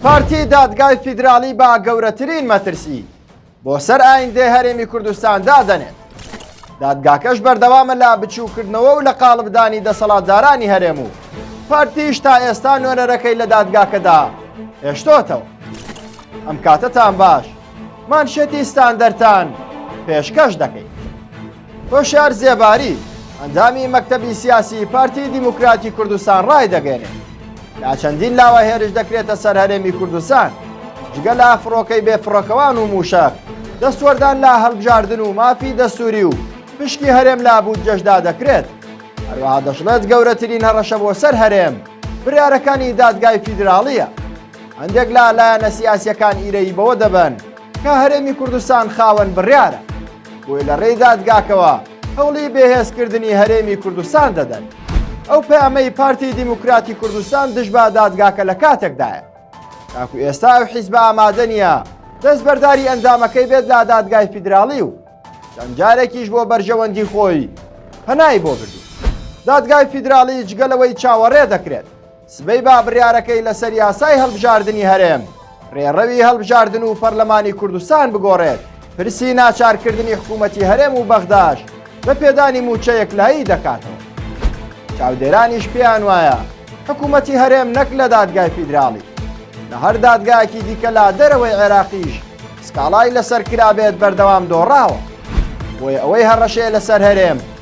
پارتی دادگای فیدراڵی بە گەورەترین مەترسی بۆ سەر ئایندەی هەرێمی کوردستان دادەنێت. دادگاکەش بەردەوامە لە بچووکردنەوە و لە قاڵبدانی دەسەڵاتدارانی هەرێم و پارتیش تا ئێستا نوێنەرەکەی لە دادگاکەدا هێشتۆتەوە. ئەم کاتەتان باش مانشێتی ستاندەرتان پێشکەش دەکەین. هۆشیار زێباری، ئەندامی مەکتەبی سیاسیی پارتیی دیموکراتی کوردستان ڕایدەگەیێنێت، لا چەندین لاوە هێرش دەکرێتە سەر هەرێمی کوردستان، جگە لە فڕۆکەی بێفڕۆکەوان و مووشەک، دەستوەردان لە هەڵبژاردن و مافی دەستووری و پشکی هەرێم لە بودجەشدا دەکرێت. هەروەها دەشڵێت، گەورەترین هەڕەشە بۆ سەر هەرێم، بڕیارەکانی دادگای فیدراڵییە. هەندێک لە لایەنە سیاسییەکان ئیرەیی بەوە دەبەن، کە هەرێمی کوردستان خاوەن بڕیارە. بۆیە لە ڕێی دادگاکەوە هەوڵی بێهێزکردنی هەرێمی کوردستان دەدەن ئەو پەیامەی پارتی دیموکراتی کوردستان دژ بە دادگاکە لە کاتێکدایە تاکو ئێستا ئەو حیزب ئامادە نییە دەست بەرداری ئەندامەکەی بێت لە دادگای فیدراڵی و چەند جارێکیش بۆ بەرژەوەندی خۆی پەنای بۆ بردو دادگای فیدراڵی جگەلەوەی چاوەڕێ دەکرێت سبەی با بڕیارەکەی لەسەر یاسای هەڵبژاردنی هەرێم، رێڕەوی هەڵبژاردن و پەرلەمانی کوردستان بگۆڕێت، پرسی ناچارکردنی حکوومەتی هەرێم و بەغداش بە پێدانی مووچە یەکلایی دەکاتەوە. چاودێرانیش پێیان وایە حکوومەتی هەرێم نەک لە دادگای فیدراڵی، لە هەر دادگایەکی دیکە لا دەرەوەی عێراقیش سکاڵای لەسەر کرابێت بەردەوام دۆڕاوە. بۆیە ئەوەی هەڕەشەیە لەسەر هەرێم،